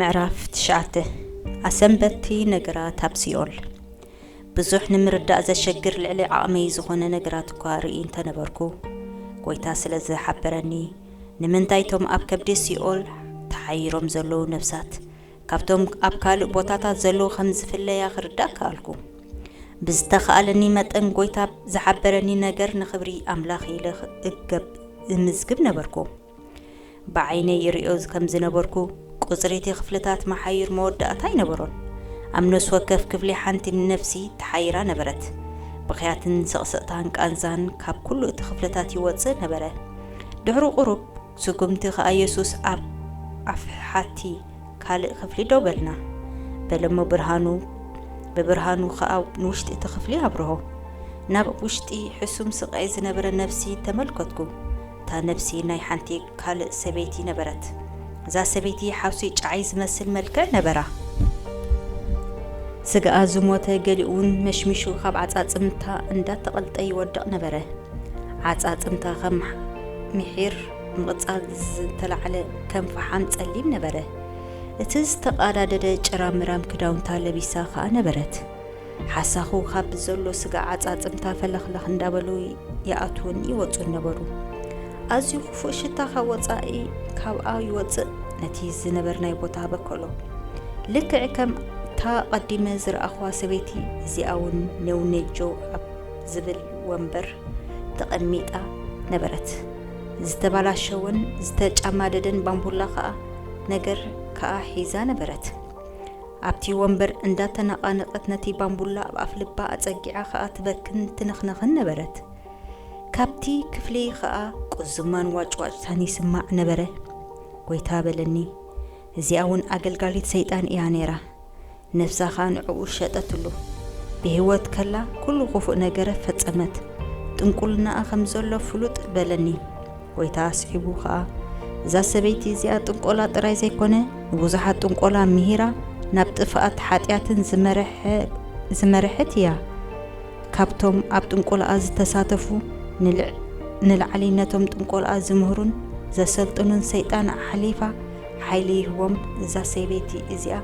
ምዕራፍ ትሽዓተ ኣሰንበቲ ነገራት ኣብ ሲኦል ብዙሕ ንምርዳእ ዘሸግር ልዕሊ ዓቕመይ ዝኾነ ነገራት እኳ ርኢ እንተነበርኩ ጎይታ ስለ ዝሓበረኒ ንምንታይ እቶም ኣብ ከብዲ ሲኦል ተሓይሮም ዘለዉ ነፍሳት ካብቶም ኣብ ካልእ ቦታታት ዘለዉ ከም ዝፍለያ ክርዳእ ከኣልኩ ብዝተኻኣለኒ መጠን ጎይታ ዝሓበረኒ ነገር ንኽብሪ ኣምላኽ ኢለ እገብ እምዝግብ ነበርኩ ብዓይነይ ይርእዮ ከም ዝነበርኩ፣ ቍጽሪ እቲ ክፍልታት መሓዩር መወዳእታ ኣይነበሮን። ኣብ ነፍሲ ወከፍ ክፍሊ ሓንቲ ነፍሲ ተሓይራ ነበረት። ብኽያትን ስቕስቕታን ቃንዛን ካብ ኵሉ እቲ ክፍልታት ይወጽእ ነበረ። ድሕሪ ቍሩብ ስጕምቲ ኸኣ የሱስ ኣብ ኣፍሓቲ ካልእ ክፍሊ ደው በልና በለ እሞ ብርሃኑ ብብርሃኑ ኸኣ ንውሽጢ እቲ ክፍሊ ኣብርሆ። ናብ ውሽጢ ሕሱም ስቓይ ዝነበረ ነፍሲ ተመልከትኩ። እታ ነብሲ ናይ ሓንቲ ካልእ ሰበይቲ ነበረት። እዛ ሰበይቲ ሓውሲ ጨዓይ ዝመስል መልክዕ ነበራ። ስጋኣ ዝሞተ ገሊኡውን መሽሚሹ ካብ ዓጻጽምታ እንዳተቐልጠ ይወድቕ ነበረ። ዓጻጽምታ ከም ምሒር ምቕጻል ዝተላዕለ ከም ፈሓም ጸሊም ነበረ። እቲ ዝተቓዳደደ ጭራምራም ክዳውንታ ለቢሳ ከኣ ነበረት። ሓሳኹ ካብ ብዘሎ ስጋ ዓጻጽምታ ፈለኽለኽ እንዳበሉ ይኣትዉን ይወጹን ነበሩ። ኣዝዩ ክፉእ ሽታ ካብ ወጻኢ ካብኣ ይወጽእ ነቲ ዝነበርናይ ቦታ በከሎ። ልክዕ ከም እታ ቀዲመ ዝረኣኹዋ ሰበይቲ እዚኣ እውን ኔውኔጆ ኣብ ዝብል ወንበር ተቐሚጣ ነበረት። ዝተባላሸወን ዝተጫማደደን ባምቡላ ከኣ ነገር ከኣ ሒዛ ነበረት። ኣብቲ ወንበር እንዳተነቓነቐት ነቲ ባምቡላ ኣብ ኣፍ ልባ ኣጸጊዓ ከኣ ትበክን ትንኽነኽን ነበረት። ካብቲ ክፍሊ ከኣ ቁዝማን ዋጭዋጭታን ይስማዕ ነበረ። ጎይታ በለኒ፣ እዚኣ ውን ኣገልጋሊት ሰይጣን ኢያ ነይራ። ነብሳ ከኣ ንዕኡ ሸጠትሉ። ብህይወት ከላ ኩሉ ክፉእ ነገረ ፈጸመት። ጥንቁልናኣ ከም ዘሎ ፍሉጥ በለኒ። ጐይታ ኣስዒቡ ኸኣ፣ እዛ ሰበይቲ እዚኣ ጥንቈላ ጥራይ ዘይኰነ፣ ንብዙሓት ጥንቈላ ምሂራ ናብ ጥፍኣት ሓጢኣትን ዝመርሐ ዝመርሐት እያ። ካብቶም ኣብ ጥንቈላኣ ዝተሳተፉ፣ ንልዕ ንላዕሊ ነቶም ጥንቈላኣ ዝምህሩን ዘሰልጥኑን ሰይጣን ኣሕሊፋ ሓይሊ ይህቦም። እዛ ሰበይቲ እዚኣ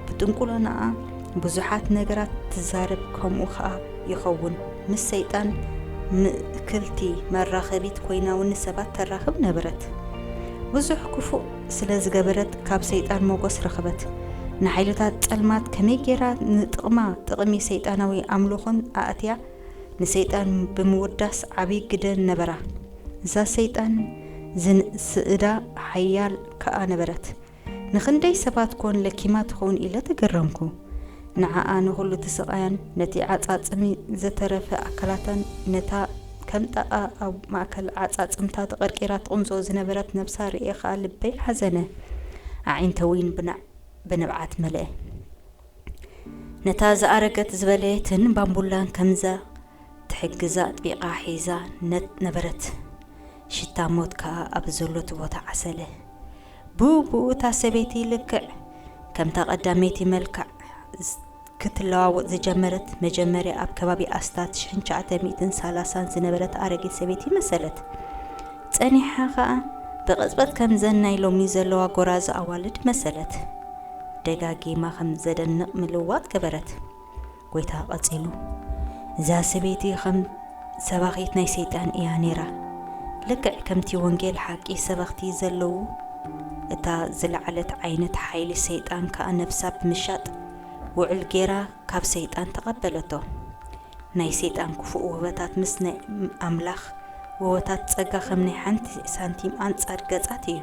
ብጥንቍልናኣ ብዙሓት ነገራት ትዛረብ፣ ከምኡ ኸኣ ይኸውን። ምስ ሰይጣን ምእክልቲ መራኸቢት ኮይናውኒ ሰባት ተራኽብ ነበረት። ብዙሕ ክፉእ ስለ ዝገበረት ካብ ሰይጣን ሞጎስ ረኽበት። ንሓይልታት ጸልማት ከመይ ጌራ ንጥቕማ ጥቕሚ ሰይጣናዊ ኣምልኾን ኣእትያ ንሰይጣን ብምውዳስ ዓቢ ግደ ነበራ። እዛ ሰይጣን ዝንእስእዳ ሓያል ከኣ ነበረት። ንኽንደይ ሰባት ኮን ለኪማ ትኸውን ኢለ ተገረምኩ። ንዓኣ ንኹሉ እቲ ስቓያን ነቲ ዓጻጽሚ ዝተረፈ ኣካላታን ነታ ከም ጣቓ ኣብ ማእከል ዓጻጽምታ ተቐርቂራ ትቕንዞ ዝነበረት ነብሳ ርእየ ከኣ ልበይ ሓዘነ። ኣዒንተይ'ውን ብንብዓት መልኣ። ነታ ዝኣረገት ዝበለየትን ባምቡላን ከምዛ ትሕግዛ ኣጥቢቓ ሒዛ ነበረት። ሽታ ሞት ከኣ ኣብ ዘሎቱ ቦታ ዓሰለ። ብኡብኡ እታ ሰበይቲ ልክዕ ከምታ ቀዳመይቲ መልክዕ ክትለዋወጥ ዝጀመረት መጀመርያ ኣብ ከባቢ ኣስታት 1930 ዝነበረት ኣረጊት ሰበይቲ መሰለት። ጸኒሓ ከኣ ብቕጽበት ከምዘን ናይ ሎሚ ዘለዋ ጎራዙ ኣዋልድ መሰለት። ደጋጊማ ከም ዘደንቕ ምልውዋጥ ገበረት። ጐይታ ቐጺሉ፣ እዛ ሰበይቲ ኸም ሰባኺት ናይ ሰይጣን እያ ነይራ። ልክዕ ከምቲ ወንጌል ሓቂ ሰበኽቲ ዘለዉ፣ እታ ዝለዓለት ዓይነት ሓይሊ ሰይጣን ከኣ ነፍሳ ብምሻጥ ውዕል ገይራ ካብ ሰይጣን ተቐበለቶ። ናይ ሰይጣን ክፉእ ውህበታት ምስ ናይ ኣምላኽ ውህበታት ጸጋ ከም ናይ ሓንቲ ሳንቲም ኣንጻር ገጻት እዩ።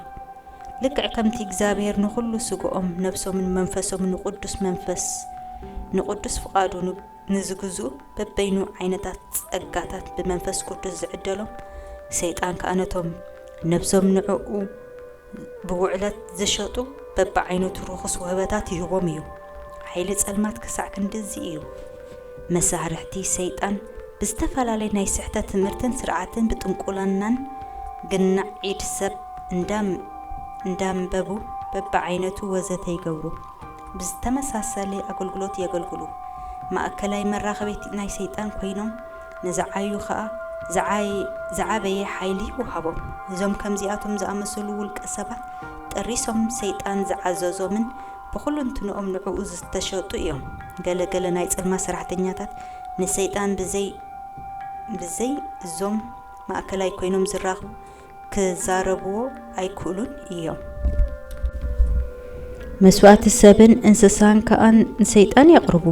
ልክዕ ከምቲ እግዚኣብሔር ንኹሉ ሥግኦም ነፍሶምን መንፈሶምን ንቅዱስ መንፈስ ንቅዱስ ፍቃዱ ንዝግዝኡ በበይኑ ዓይነታት ጸጋታት ብመንፈስ ቅዱስ ዝዕደሎም ሰይጣን ከኣ ነቶም ነፍሶም ንዕኡ ብውዕለት ዝሸጡ በብዓይነቱ ርኹስ ውህበታት ይህቦም እዩ። ሓይሊ ጸልማት ክሳዕ ክንድዚ እዩ። መሳርሕቲ ሰይጣን ብዝተፈላለየ ናይ ስሕተት ትምህርትን ስርዓትን ብጥንቁልናን ግናዕ ኢድ ሰብ እንዳንበቡ በብዓይነቱ ወዘተ ይገብሩ ብዝተመሳሰለ ኣገልግሎት የገልግሉ ማእከላይ መራኸቢት ናይ ሰይጣን ኮይኖም ንዝዓዩ ከኣ ዝዓበየ ሓይሊ ይወሃቦም እዞም ከምዚኣቶም ዝኣመሰሉ ውልቀ ሰባት ጠሪሶም ሰይጣን ዝዓዘዞምን ብኹሉንትንኦም ንዕኡ ዝተሸጡ እዮም። ገለ ገለ ናይ ጽልማ ሰራሕተኛታት ንሰይጣን ብዘይ ብዘይ እዞም ማእከላይ ኮይኖም ዝራኽቡ ክዛረብዎ ኣይክእሉን እዮም። መስዋእቲ ሰብን እንስሳን ከኣ ንሰይጣን የቕርቡ።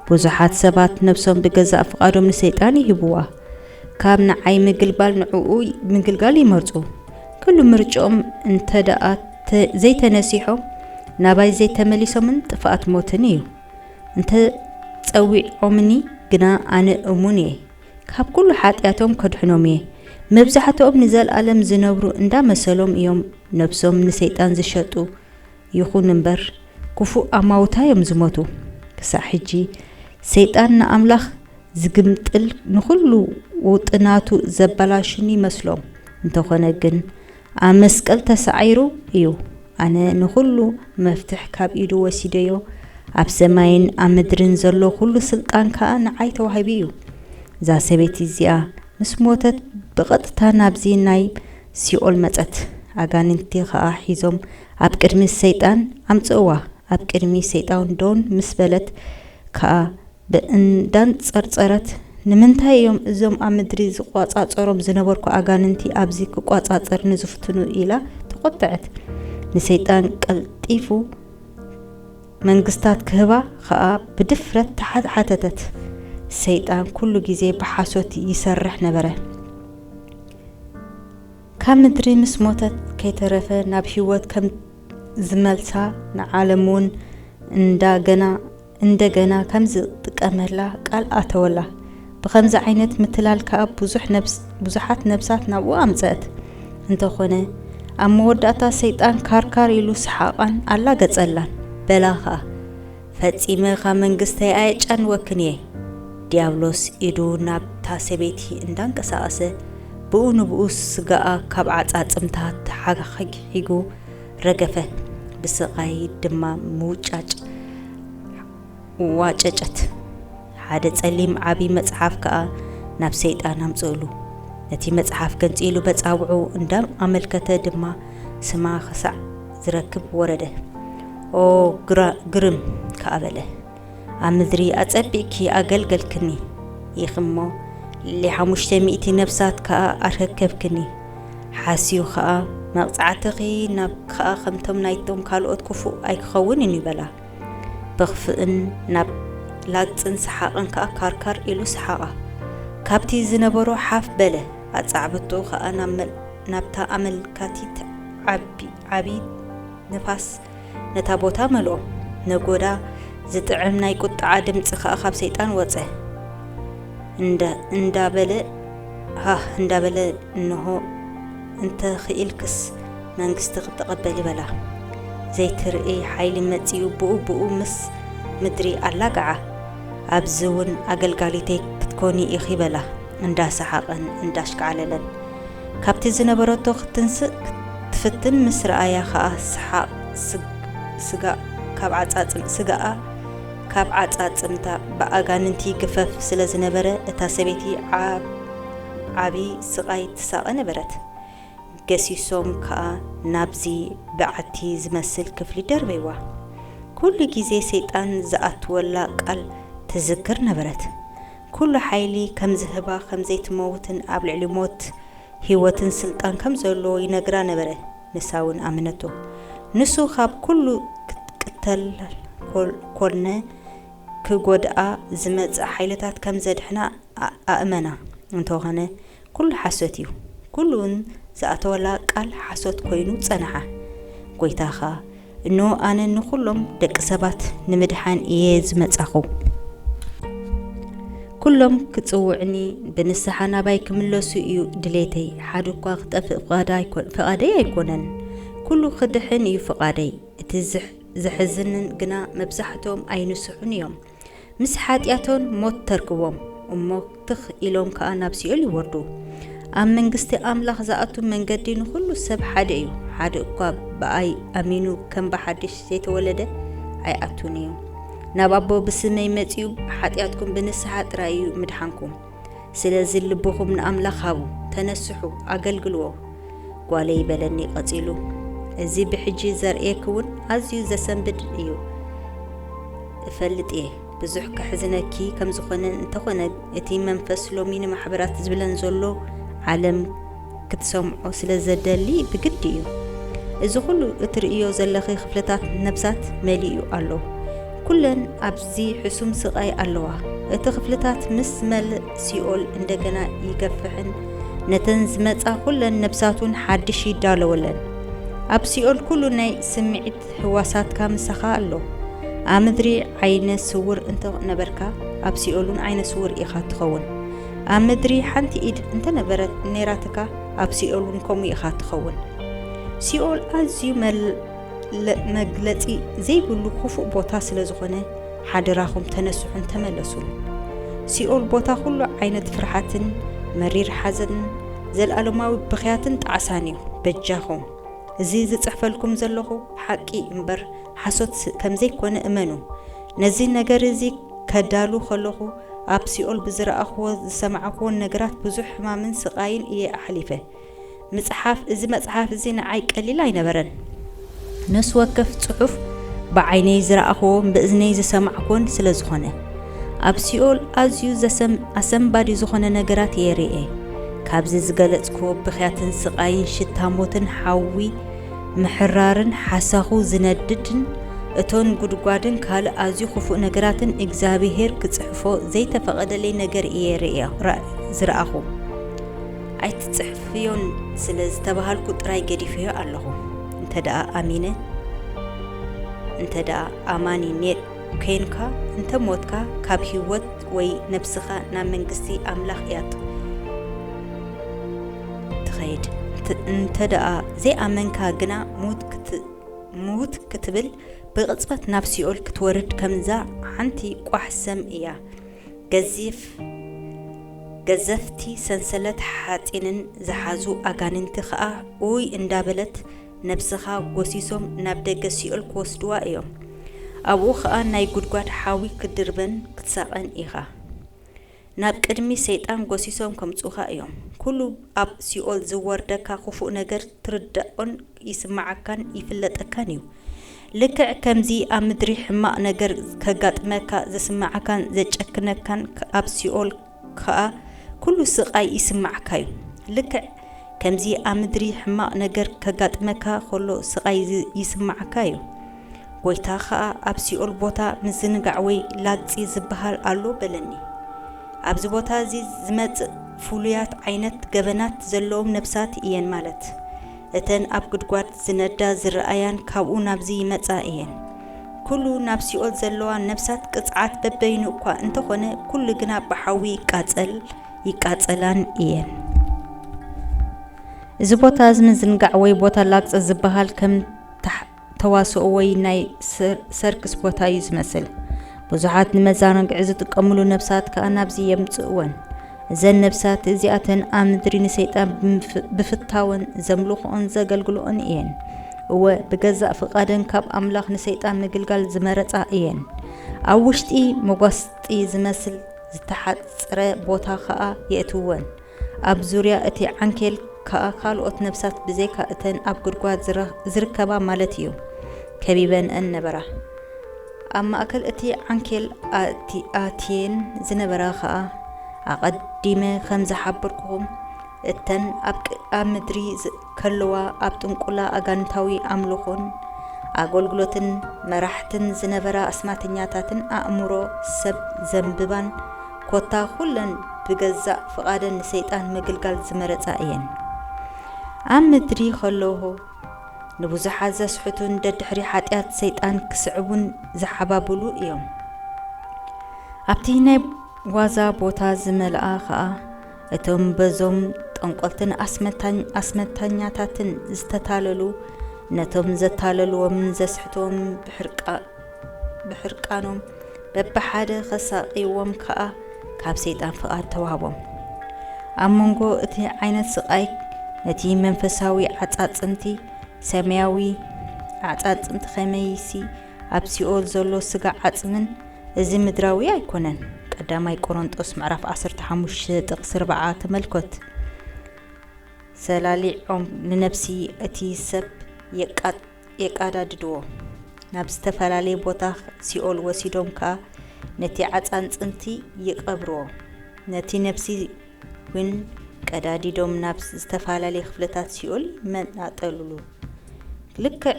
ብዙሓት ሰባት ነብሶም ብገዛእ ፍቓዶም ንሰይጣን ይህብዋ። ካብ ንዓይ ምግልባል ንዕኡ ምግልጋል ይመርጹ። ክሉ ምርጭኦም እንተደኣ እንተ ዘይተነሲሖም ናባይ ዘይተመሊሶምን ጥፍኣት ሞትን እዩ። እንተ ጸዊዖምኒ ግና ኣነ እሙን እየ፣ ካብ ኩሉ ሓጢኣቶም ከድሕኖም እየ። መብዛሕትኦም ንዘልኣለም ዝነብሩ እንዳ መሰሎም እዮም ነብሶም ንሰይጣን ዝሸጡ ይኹን እምበር ክፉእ ኣማውታ እዮም ዝሞቱ። ክሳዕ ሕጂ ሰይጣን ንኣምላኽ ዝግምጥል ንኹሉ ውጥናቱ ዘበላሽን ይመስሎም። እንተኾነ ግን ኣብ መስቀል ተሳዒሩ እዩ ኣነ ንኹሉ መፍትሕ ካብ ኢዱ ወሲደዮ ኣብ ሰማይን ኣብ ምድርን ዘሎ ኩሉ ስልጣን ከኣ ንዓይ ተዋሂቡ እዩ እዛ ሰበይቲ እዚኣ ምስ ሞተት ብቐጥታ ናብዚ ናይ ሲኦል መጸት ኣጋንንቲ ከኣ ሒዞም ኣብ ቅድሚ ሰይጣን ኣምጽእዋ ኣብ ቅድሚ ሰይጣን ደውን ምስ በለት ከኣ እንዳንጸርጸረት ንምንታይ እዮም እዞም ኣብ ምድሪ ዝቆጻጸሮም ዝነበርኩ ኣጋንንቲ ኣብዚ ክቆጻጸርኒ ዝፍትኑ ኢላ ተቆጠዐት ንሰይጣን ቀልጢፉ መንግስታት ክህባ ከኣ ብድፍረት ተሓተተት ሰይጣን ኩሉ ግዜ ብሓሶት ይሰርሕ ነበረ ካብ ምድሪ ምስ ሞተት ከይተረፈ ናብ ህይወት ከም ዝመልሳ ንዓለም እውን እንዳገና እንደገና ከምዝጥቀመላ ቃል ኣተወላ። ብኸምዚ ዓይነት ምትላል ከኣ ብዙሓት ነብሳት ናብኡ ኣምጸእት። እንተኾነ ኣብ መወዳእታ ሰይጣን ካርካር ኢሉ ሰሓቓን ኣላገጸላን። በላ ከኣ፣ ፈጺመ ካብ መንግስተይ ኣየጫንወክን እየ። ድያብሎስ ኢዱ ናብታ ሰበይቲ እንዳንቀሳቐሰ ብኡ ንብኡ ስጋኣ ካብ ዓጻጽምታ ተሓግሒጉ፣ ረገፈ ብስቓይ ድማ ምውጫጭ ዋጨጨት ሓደ ጸሊም ዓብዪ መጽሓፍ ከኣ ናብ ሰይጣን ኣምጽእሉ ነቲ መጽሓፍ ገንጺሉ በጻብዑ እንዳም ኣመልከተ ድማ ስማ ክሳዕ ዝረክብ ወረደ ኦ ግርም ከኣ በለ ኣብ ምድሪ ኣጸቢቕኪ ኣገልገልክኒ ኢኺ እሞ፣ ልዕሊ ሓሙሽተ ሚእቲ ነፍሳት ከኣ ኣረከብክኒ። ሓስዩ ኸኣ፣ መቕጻዕትኺ ናብ ኸኣ ከምቶም ናይቶም ካልኦት ክፉእ ኣይክኸውንን እዩ በላ። ብኽፍእን ናብ ላግጽን ሰሓቕን ከኣ ካርካር ኢሉ ሰሓቓ። ካብቲ ዝነበሮ ሓፍ በለ፣ ኣጻዕብትኡ ኸኣ ናብታ ኣመልካቲት ዓቢት ንፋስ ነታ ቦታ መልኦ፣ ነጐዳ፣ ዚጥዕም ናይ ቍጥዓ ድምጺ ኸኣ ኻብ ሰይጣን ወጸ። እንዳ እንዳበለ ሃህ እንዳበለ እንሆ እንተ ኽኢልክስ መንግስቲ ኽትቐበሊ በላ። ዘይትርእይ ሓይሊ መጺኡ ብኡ ብኡ ምስ ምድሪ ኣላግዓ። ኣብዚውን ኣገልጋሊተይ ክትኰኒ ኢኺ በላ፣ እንዳሰሓቐን እንዳሽካዕለለን። ካብቲ ዝነበረቶ ክትንስእ ክትፍትን ምስ ረኣያ ከኣ ሰሓቕ ስጋእ ካብ ዓጻጽም ስጋኣ ካብ ዓጻጽምታ ብኣጋንንቲ ግፈፍ ስለ ዝነበረ እታ ሰበይቲ ዓብ ዓቢ ስቓይ ትሳቐ ነበረት። ገሲሶም ከኣ ናብዚ በዓቲ ዝመስል ክፍሊ ደርበይዋ። ኩሉ ግዜ ሰይጣን ዝኣትወላ ቃል ትዝክር ነበረት። ኩሉ ሓይሊ ከም ዝህባ ከም ዘይትመውትን ኣብ ልዕሊ ሞት ህይወትን ስልጣን ከም ዘለዎ ይነግራ ነበረ ንሳ ውን ኣመነቶ ንሱ ካብ ኩሉ ክትቅተል ኮነ ክጎድኣ ዝመጽእ ሓይልታት ከም ዘድሕና ኣእመና እንተኾነ ኩሉ ሓሶት እዩ ኩሉ ውን ዝኣተወላ ቃል ሓሶት ኮይኑ ጸንሓ ጎይታኻ እንሆ ኣነ ንኩሎም ደቂ ሰባት ንምድሓን እየ ዝመጻኹ ኩሎም ክጽውዕኒ ብንስሓ ናባይ ክምለሱ እዩ ድሌተይ ሓደ እኳ ክጠፍእ ፍቓደይ ኣይኮነን ኩሉ ክድሕን እዩ ፍቓደይ እቲ ዘሕዝንን ግና መብዛሕትኦም ኣይንስሑን እዮም ምስ ሓጢኣቶን ሞት ተርክቦም እሞ ትኽ ኢሎም ከኣ ናብ ሲኦል ይወርዱ። ኣብ መንግስቲ ኣምላኽ ዝኣቱ መንገዲ ንዅሉ ሰብ ሓደ እዩ፣ ሓደ እኳ ብኣይ ኣሚኑ ከም ብሓድሽ ዘይተወለደ ኣይኣቱን እዩ። ናብ ኣቦ ብስመይ መጺኡ ብሓጢኣትኩም ብንስሓ ጥራይ እዩ ምድሓንኩም። ስለዚ ልብኹም ንኣምላኽ ሃቡ፣ ተነስሑ፣ ኣገልግልዎ። ጓለይ በለኒ ቀጺሉ። እዚ ብሕጂ ዘርእየኪ እውን ኣዝዩ ዘሰንብድ እዩ። እፈልጥ እየ ብዙሕ ከሕዝነኪ ከም ዝኾነን እንተኾነ እቲ መንፈስ ሎሚ ንማሕበራት ዝብለን ዘሎ ዓለም ክትሰምዖ ስለ ዘደሊ ብግዲ እዩ። እዚ ኩሉ እትርእዮ ዘለኺ ክፍልታት ነብሳት መሊኡ ኣሎ። ኩለን ኣብዚ ሕሱም ስቓይ ኣለዋ። እቲ ክፍልታት ምስ መልእ ሲኦል እንደገና ይገፍሕን ነተን ዝመጻ ኩለን ነብሳቱን ሓድሽ ይዳለወለን። ኣብ ሲኦል ኩሉ ናይ ስምዒት ህዋሳትካ ምሳኻ ኣሎ። ኣብ ምድሪ ዓይነ ስውር እንተ ነበርካ ኣብ ሲኦልውን ዓይነ ስውር ኢኻ እትኸውን። ኣብ ምድሪ ሓንቲ ኢድ እንተ ነበረት ነይራትካ፣ ኣብ ሲኦል እውን ከምኡ ኢኻ እትኸውን። ሲኦል ኣዝዩ መግለጺ ዘይብሉ ክፉእ ቦታ ስለ ዝዀነ፣ ሓደራኹም ተነስሑን ተመለሱን። ሲኦል ቦታ ኵሉ ዓይነት ፍርሓትን መሪር ሓዘንን ዘለኣለማዊ ብኽያትን ጣዕሳን እዩ። በጃኹም እዚ ዝጽሕፈልኩም ዘለኹ ሓቂ እምበር ሓሶት ከም ዘይኰነ እመኑ። ነዚ ነገር እዚ ከዳሉ ከለኹ፣ ኣብ ሲኦል ብዝረኣኹዎ ዝሰማዕኹዎን ነገራት ብዙሕ ሕማምን ስቓይን እየ ኣሕሊፈ። ምጽሓፍ እዚ መጽሓፍ እዚ ንዓይ ቀሊል ኣይነበረን። ነፍሲ ወከፍ ጽሑፍ ብዓይነይ ዝረኣኹዎን ብእዝነይ ዝሰማዕኩዎን ስለ ዝኾነ ኣብ ሲኦል ኣዝዩ ኣሰንባዲ ዝኾነ ነገራት እየ ርኤ። ካብዚ ዝገለጽኩዎ ብኽያትን ስቓይን ሽታ ሞትን ሓዊ ምሕራርን ሓሳኹ ዝነድድን እቶን ጉድጓድን ካልእ ኣዝዩ ክፉእ ነገራትን እግዚኣብሄር ክጽሕፎ ዘይተፈቐደለይ ነገር እየ ርእየ ዝረኣኹ። ኣይትጽሕፍዮን ስለ ዝተባሃልኩ ጥራይ ገዲፈዮ ኣለኹ። እንተደኣ ኣሚነ እንተደኣ ኣማኒ ኔር ኴንካ እንተ ሞትካ ካብ ህይወት ወይ ነብስኻ ናብ መንግስቲ ኣምላኽ እያ ትኸይድ። እንተደኣ ዘይኣመንካ ግና ምውት ክትብል ብቕጽበት ናብ ሲኦል ክትወርድ ከምዛ ሓንቲ ቋሕ ሰም እያ። ገዘፍቲ ሰንሰለት ሓጺንን ዝሓዙ ኣጋንንቲ ከኣ ኡይ እንዳበለት ነብስኻ ጎሲሶም ናብ ደገ ሲኦል ክወስድዋ እዮም። ኣብኡ ኸኣ ናይ ጉድጓድ ሓዊ ክትድርበን ክትሳቐን ኢኻ። ናብ ቅድሚ ሰይጣን ጎሲሶም ከምጽኡኻ እዮም። ኩሉ ኣብ ሲኦል ዝወርደካ ክፉእ ነገር ትርዳኦን ይስምዓካን ይፍለጠካን እዩ። ልክዕ ከምዚ ኣብ ምድሪ ሕማቕ ነገር ከጋጥመካ ዝስምዓካን ዘጨክነካን ኣብ ሲኦል ከኣ ኩሉ ስቃይ ይስማዓካ ዩ ልክዕ ከምዚ ኣብ ምድሪ ሕማቅ ነገር ከጋጥመካ ኮሎ ስቃይ ይስማዓካ ዩ ጎይታ ከኣ ኣብ ሲኦል ቦታ ምዝንጋዕ ወይ ላግጺ ዝብሃል ኣሎ በለኒ ኣብዚ ቦታ እዚ ዝመጽእ ፍሉያት ዓይነት ገበናት ዘለዎም ነብሳት ኢየን ማለት እተን ኣብ ጉድጓድ ዝነዳ ዝረኣያን ካብኡ ናብዚ ይመጻ እየን። ኩሉ ናብ ሲኦል ዘለዋ ነፍሳት ቅጽዓት በበይኑ እኳ እንተኾነ ኩሉ ግና ብሓዊ ይቃጸል ይቃጸላን እየን። እዚ ቦታ እዚ ምዝንጋዕ ወይ ቦታ ላግጺ ዝበሃል ከም ተዋስኦ ወይ ናይ ሰርክስ ቦታ እዩ ዝመስል። ብዙሓት ንመዛናግዒ ዝጥቀምሉ ነብሳት ከኣ ናብዚ የምጽእወን። እዘን ነብሳት እዚኣተን ኣብ ምድሪ ንሰይጣን ብፍታወን ዘምልኽኦን ዘገልግልኦን እየን። እወ ብገዛእ ፍቓደን ካብ ኣምላኽ ንሰይጣን ምግልጋል ዝመረጻ እየን። ኣብ ውሽጢ መጓስጢ ዝመስል ዝተሓጽረ ቦታ ኸኣ የእትውወን። ኣብ ዙርያ እቲ ዓንኬል ከኣ ካልኦት ነፍሳት ብዘይካ እተን ኣብ ጕድጓድ ዚርከባ ማለት እዩ፣ ከቢበንኣን ነበራ። ኣብ ማእከል እቲ ዓንኬል ኣእትየን ዝነበራ ኸኣ፣ ኣቐዲመ ኸም ዝሓበርኩኹም እተን ኣብ ምድሪ ከለዋ ኣብ ጥንቁላ ኣጋንንታዊ ኣምልኾን ኣጎልግሎትን መራሕትን ዝነበራ ኣስማተኛታትን ኣእምሮ ሰብ ዘንብባን ኮታ ኩለን ብገዛእ ፍቓደን ንሰይጣን ምግልጋል ዝመረጻ እየን። ኣብ ምድሪ ከለዎ ንብዙሓት ዘስሕቱን ደድሕሪ ሓጢኣት ሰይጣን ክስዕቡን ዝሓባብሉ እዮም። ኣብቲ ናይ ዋዛ ቦታ ዝመልኣ ከኣ እቶም በዞም ጠንቆልትን ኣስመታኛታትን ዝተታለሉ ነቶም ዘታለልዎምን ዘስሕትዎምን ብሕርቃኖም በብሓደ ኸሳቕይዎም ከኣ ካብ ሰይጣን ፍቓድ ተዋህቦም። ኣብ መንጎ እቲ ዓይነት ስቓይ ነቲ መንፈሳዊ ዓጻጽምቲ ሰማያዊ ኣዕጻጽምቲ ኸመይሲ ኣብ ሲኦል ዘሎ ስጋ ዓጽምን እዚ ምድራዊ ኣይኮነን ቀዳማይ ቆሮንጦስ ምዕራፍ ዓሰርተ ሓሙሽተ ጥቅሲ ኣርብዓ ተመልኮት ሰላሊዖም ንነብሲ እቲ ሰብ የቃጥ የቃዳድድዎ ናብ ዝተፈላለየ ቦታ ሲኦል ወሲዶም ከኣ ነቲ ዓጻን ጽንቲ ይቀብርዎ ነቲ ነብሲ ውን ቀዳዲዶም ናብ ዝተፈላለየ ክፍልታት ሲኦል ይመናጠልሉ ልክዕ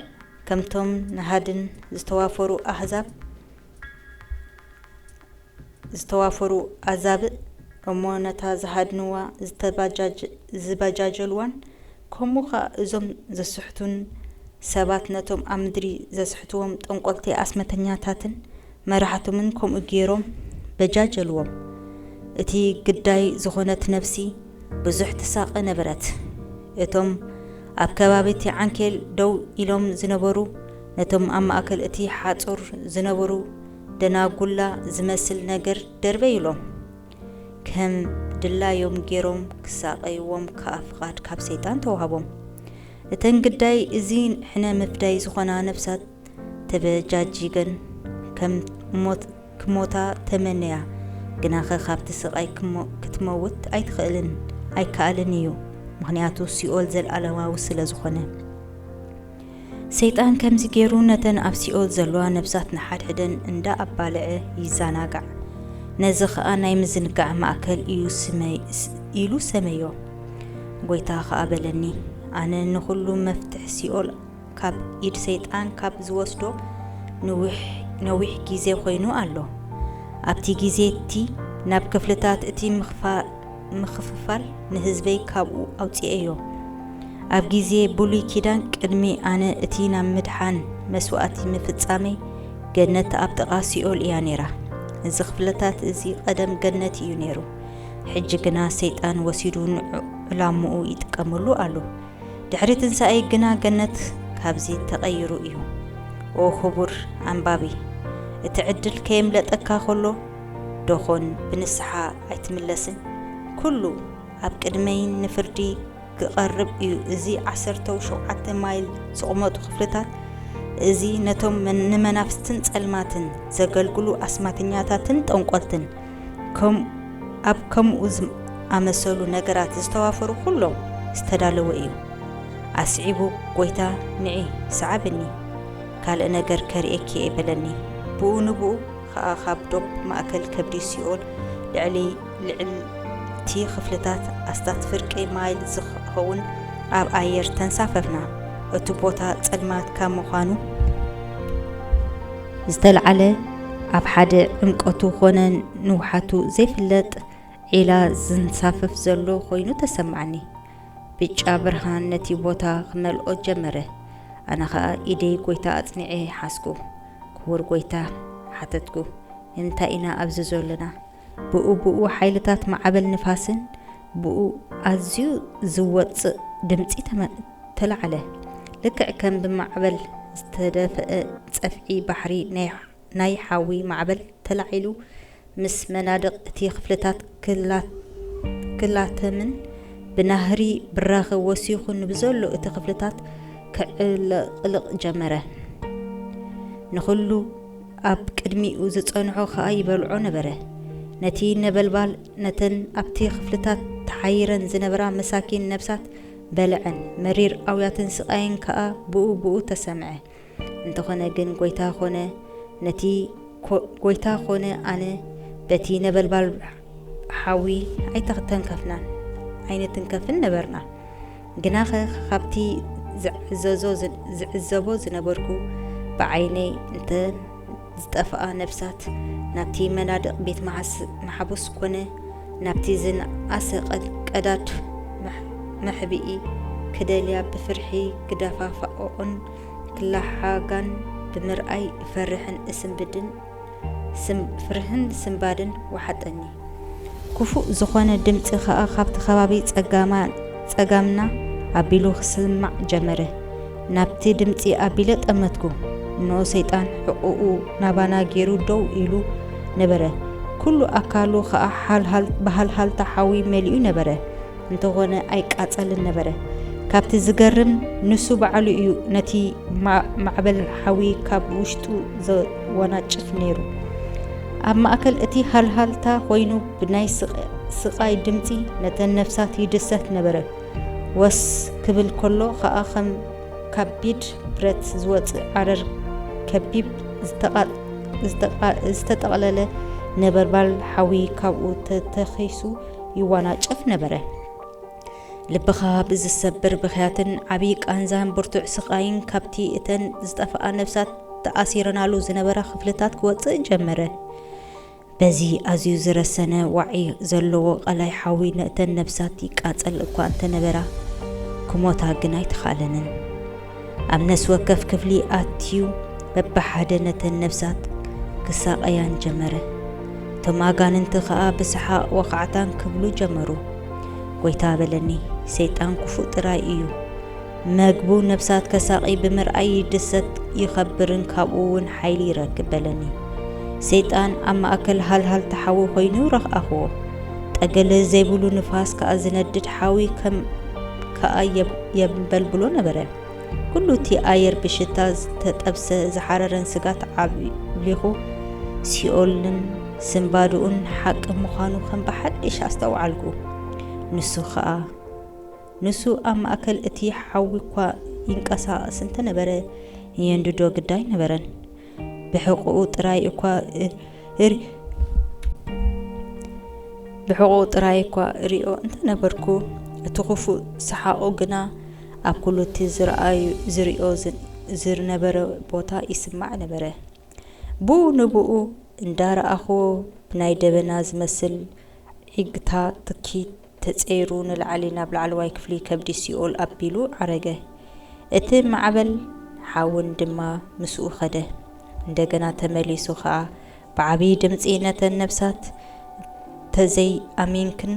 ከምቶም ንሃድን ዝተዋፈሩ ኣህዛብ ዝተዋፈሩ ኣዛብእ እሞ ነታ ዝሃድንዋ ዝተባጃጀልዋን ከምኡ ከኣ እዞም ዘስሕቱን ሰባት ነቶም ኣብ ምድሪ ዘስሕትዎም ጠንቆልቲ ኣስመተኛታትን መራሕቶምን ከምኡ ገይሮም በጃጀልዎም እቲ ግዳይ ዝኾነት ነፍሲ ብዙሕ ትሳቐ ነበረት እቶም ኣብ ከባቢ እቲ ዓንኬል ደው ኢሎም ዝነበሩ ነቶም ኣብ ማእከል እቲ ሓጹር ዝነበሩ ደናጉላ ዝመስል ነገር ደርበዩሎም። ከም ድላዮም ገይሮም ክሳቐይዎም ከኣ ፍቓድ ካብ ሰይጣን ተዋህቦም። እተን ግዳይ እዚ ሕነ ምፍዳይ ዝኾና ነፍሳት ተበጃጂገን ከም ሞት ክሞታ ተመነያ፣ ግናኸ ካብቲ ስቓይ ክትመውት ኣይትኽእልን፣ ኣይከኣልን እዩ፣ ምኽንያቱ ሲኦል ዘልኣለማዊ ስለ ዝኾነ። ሰይጣን ከምዚ ገይሩ ነተን ኣብ ሲኦል ዘለዋ ነብሳት ንሓድሕደን እንዳ ኣባልዐ ይዛናጋዕ። ነዚ ከኣ ናይ ምዝንጋዕ ማእከል እዩ ስመይ ኢሉ ሰመዮ። ጎይታ ከኣ በለኒ ኣነ ንኹሉ መፍትሕ ሲኦል ካብ ኢድ ሰይጣን ካብ ዝወስዶ ነዊሕ ግዜ ኮይኑ ኣሎ። ኣብቲ ግዜ እቲ ናብ ክፍልታት እቲ ምክፋ ምክፍፋል ንህዝበይ ካብኡ ኣውጺኤዮ። ኣብ ግዜ ብሉይ ኪዳን ቅድሚ ኣነ እቲ ናብ ምድሓን መስዋእቲ ምፍጻመይ ገነት ኣብ ጥቓ ሲኦል እያ ነይራ። እዚ ክፍልታት እዚ ቀደም ገነት እዩ ነይሩ። ሕጂ ግና ሰይጣን ወሲዱ ንዕላምኡ ይጥቀመሉ ኣሎ። ድሕሪ ትንሳኤይ ግና ገነት ካብዚ ተቐይሩ እዩ። ኦ ክቡር ኣንባቢ! እቲ ዕድል ከየምለጠካ ከሎ ደኾን ብንስሓ ኣይትምለስን? ኩሉ ኣብ ቅድመይ ንፍርዲ ክቐርብ እዩ። እዚ ዓሰርተው ሸውዓተ ማይል ዝቑመቱ ክፍልታት እዚ ነቶም ንመናፍስትን ጸልማትን ዘገልግሉ ኣስማተኛታትን ጠንቆልትን ከም ኣብ ከምኡ ዝኣመሰሉ ነገራት ዝተዋፈሩ ኩሎም ዝተዳለወ እዩ። ኣስዒቡ ጎይታ ንዒ ሰዓብኒ ካልእ ነገር ከርእየኪ እየ በለኒ። ብኡ ንብኡ ኸኣ ኻብ ዶብ ማእከል ከብዲ ሲኦል ልዕሊ ልዕልቲ ኽፍልታት ኣስታት ፍርቂ ማይል ዚኸውን ኣብ ኣየር ተንሳፈፍና። እቲ ቦታ ጸልማት ካብ ምዃኑ ዝተላዕለ ኣብ ሓደ ዕምቈቱ ዀነ ንውሓቱ ዘይፍለጥ ዒላ ዚንሳፈፍ ዘሎ ዀይኑ ተሰማዓኒ። ብጫ ብርሃን ነቲ ቦታ ኺመልኦ ጀመረ፣ ኣነ ኸኣ ኢደይ ጐይታ ኣጽኒዐ ሓዝኩ። ክቡር ጎይታ ሓተትኩ እንታይ ኢና ኣብዚ ዘሎና ብኡ ብኡ ሓይልታት ማዕበል ንፋስን ብኡ ኣዝዩ ዝወጽእ ድምጺ ተላዕለ ልክዕ ከም ብማዕበል ዝተደፍአ ጸፍዒ ባሕሪ ናይ ሓዊ ማዕበል ተላዒሉ ምስ መናድቕ እቲ ክፍልታት ክላተምን ብናህሪ ብራኸ ወሲኹ ንብዘሎ እቲ ክፍልታት ከዕለቕልቕ ጀመረ። ንኹሉ ኣብ ቅድሚኡ ዝጸንሖ ኸኣ ይበልዖ ነበረ። ነቲ ነበልባል ነተን ኣብቲ ክፍልታት ተሓይረን ዝነበራ መሳኪን ነፍሳት በልዐን፣ መሪር ኣውያትን ስቓይን ከኣ ብኡ ብኡ ተሰምዐ። እንተኾነ ግን ጎይታ ኮነ ነቲ ጎይታ ኮነ ኣነ በቲ ነበልባል ሓዊ ኣይተተንከፍናን ኣይንትንከፍን ነበርና። ግናኸ ካብቲ ዝዕዘዞ ዝዕዘቦ ዝነበርኩ ብዓይነይ እንተ ዝጠፍኣ ነፍሳት ናብቲ መናድቕ ቤት መሓቡስ ኮነ ናብቲ ዝነኣሰ ቀዳድ መሕብኢ ክደልያ ብፍርሒ ክደፋፋኦኦን ክለሓጋን ብምርኣይ እፈርሕን እስንብድን ፍርህን ስንባድን ወሓጠኒ። ክፉእ ዝኾነ ድምጺ ከኣ ካብቲ ከባቢ ጸጋምና ኣቢሉ ክስማዕ ጀመረ። ናብቲ ድምጺ ኣቢለ ጠመትኩ። እንኦ ሰይጣን ሕቕኡ ናባና ጌሩ ደው ኢሉ ነበረ። ኩሉ ኣካሉ ከኣ ብሃልሃልታ ሓዊ መሊኡ ነበረ። እንተኾነ ኣይቃጸልን ነበረ። ካብቲ ዝገርም ንሱ ባዕሉ እዩ ነቲ ማዕበል ሓዊ ካብ ውሽጡ ዘወናጭፍ ነይሩ። ኣብ ማእከል እቲ ሃልሃልታ ኮይኑ ብናይ ስቓይ ድምጺ ነተን ነፍሳት ይድሰት ነበረ። ወስ ክብል ከሎ ኸኣ ከም ካቢድ ብረት ዝወጽእ ዓረር ከቢብ ዝተጠቕለለ ነበልባል ሓዊ ካብኡ ተተኺሱ ይዋናጨፍ ነበረ። ልብኻ ብዝሰብር ብኽያትን ዓብዪ ቃንዛን ብርቱዕ ስቓይን ካብቲ እተን ዝጠፍኣ ነብሳት ተኣሲረናሉ ዝነበረ ክፍልታት ክወጽእ ጀመረ። በዚ ኣዝዩ ዝረሰነ ዋዒ ዘለዎ ቐላይ ሓዊ ነእተን ነብሳት ይቃጸል እኳ እንተነበራ ክሞታ ግን ኣይተኻእለንን። ኣብ ነፍሲ ወከፍ ክፍሊ ኣትዩ በብሓደ ነተን ነፍሳት ክሳቐያን ጀመረ። እቶም ኣጋንንቲ ኸኣ ብሰሓቕ ወኻዕታን ክብሉ ጀመሩ። ጐይታ በለኒ፣ ሰይጣን ክፉእ ጥራይ እዩ። መግቡ ነፍሳት ከሳቒ ብምርኣይ ይድሰት ይኸብርን ካብኡ እውን ሓይሊ ይረክብ በለኒ። ሰይጣን ኣብ ማእከል ሃልሃል ተሓዊ ኮይኑ ረኽኣኽዎ። ጠገለ ዘይብሉ ንፋስ ከኣ ዝነድድ ሓዊ ከም ከኣ የንበልብሎ ነበረ። ኩሉ እቲ ኣየር ብሽታ ዝተጠብሰ ዝሓረረን ስጋት ዓብሊኹ ሲኦልን ስንባድኡን ሓቂ ምዃኑ ከም ብሓድሽ ኣስተውዓልኩ። ንሱ ከኣ ንሱ ኣብ ማእከል እቲ ሓዊ እኳ ይንቀሳቐስ እንተነበረ የንድዶ ግዳይ ነበረን። ብሕቕኡ ጥራይ እኳ እር ብሕቕኡ ጥራይ እኳ እሪኦ እንተነበርኩ እቲ ክፉእ ሰሓቑ ግና ኣብ ኩሉ እቲ ዝረኣዩ ዝሪኦ ዝነበረ ቦታ ይስማዕ ነበረ። ብኡ ንብኡ እንዳረኣኹዎ ብናይ ደበና ዝመስል ዒግታ ትኪ ተጸይሩ ንላዕሊ ናብ ላዕለዋይ ክፍሊ ከብዲ ሲኦል ኣቢሉ ዓረገ። እቲ ማዕበል ሓውን ድማ ምስኡ ከደ። እንደገና ተመሊሱ ከኣ ብዓብዪ ድምጺ ነተን ነፍሳት እንተዘይ ኣሚንክን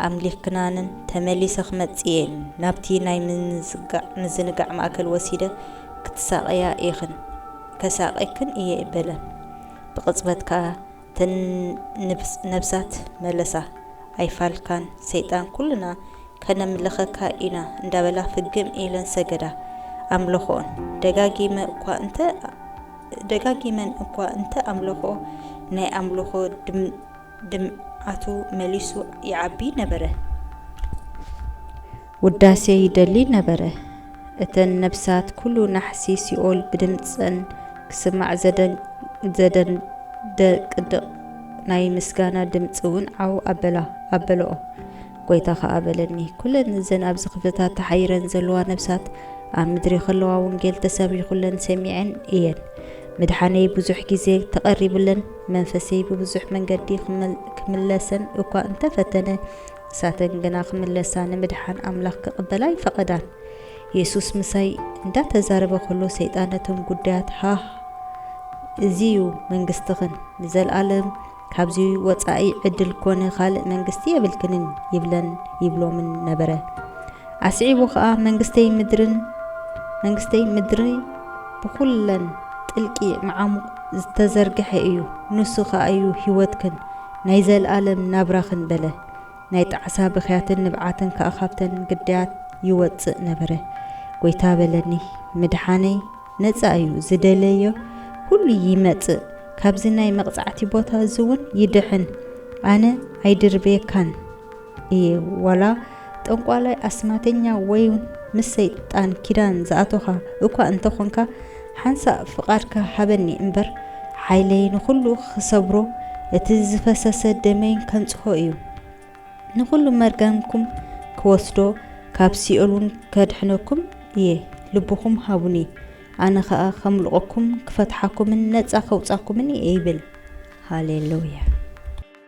ኣምሊኽክናንን ተመሊሰ ክመጽእ እየ፣ ናብቲ ናይ ምዝንጋዕ ምዝንጋዕ ማእከል ወሲደ ክትሳቐያ ኢኽን፣ ከሳቐየክን እየ በለን። ብቕጽበት ከኣ እተን ነብሳት መለሳ፣ ኣይፋልካን ሰይጣን ኩልና ከነምልኸካ ኢና እንዳበላ ፍግም ኢለን ሰገዳ። ኣምለኽኦን ደጋጊመ እኳ እንተ ደጋጊመን እኳ እንተ ኣምለኽኦ ናይ ኣምልኾ ድምዓቱ መሊሱ ይዓቢ ነበረ። ውዳሴ ይደሊ ነበረ። እተን ነፍሳት ኩሉ ናሕሲ ሲኦል ብድምጸን ክስማዕ ዘደንደቅድቕ ናይ ምስጋና ድምጺ ውን ዓው ኣበላ ኣበለኦ። ጎይታ ከኣ በለኒ ኩለን እዘን ኣብዚ ክፍልታት ተሓይረን ዘለዋ ነፍሳት ኣብ ምድሪ ከለዋ ወንጌል ተሰቢኹለን ሰሚዐን እየን። ምድሓነይ ብዙሕ ግዜ ተቐሪብለን መንፈሰይ ብብዙሕ መንገዲ ክምለሰን እኳ እንተፈተነ ንሳተን ግና ክምለሳ ንምድሓን ኣምላኽ ክቕበላ ኣይፈቐዳን። የሱስ ምሳይ እንዳተዛረበ ከሎ ሰይጣን ነቶም ጉዳያት ሃህ እዚ እዩ መንግስትኽን ንዘልኣለም ካብዚ ወጻኢ ዕድል ኮነ ካልእ መንግስቲ የብልክንን ይብለን ይብሎምን ነበረ። ኣስዒቡ ከኣ መንግስተይ ምድርን መንግስተይ ምድሪ ብኹለን ጥልቂ መዓሙቕ ዝተዘርግሐ እዩ ንሱ ከኣ እዩ ህይወትክን ናይ ዘልኣለም ናብራኽን በለ። ናይ ጣዕሳ ብኽያትን ንብዓትን ከኣ ካብተን ግዳያት ይወጽእ ነበረ። ጐይታ በለኒ፣ ምድሓነይ ነጻ እዩ፣ ዝደለዮ ዅሉ ይመጽእ፣ ካብዚ ናይ መቕጻዕቲ ቦታ እዚውን ይድሕን፣ ኣነ ኣይድርብየካን። እየ ዋላ ጠንቋላይ ኣስማተኛ ወይውን ምስ ሰይጣን ኪዳን ዝኣቶኻ እኳ እንተኾንካ ሓንሳእ ፍቓድካ ሃበኒ እምበር ሓይለይ ንኹሉ ክሰብሮ እቲ ዝፈሰሰ ደመይን ከንጽሆ እዩ ንኹሉ መርገምኩም ክወስዶ ካብ ሲኦል እውን ከድሕነኩም እየ ልብኹም ሃቡኒ ኣነ ኸኣ ከምልቆኩም ክፈትሓኩምን ነጻ ከውጻኩምን እየ ይብል ሃሌሉያ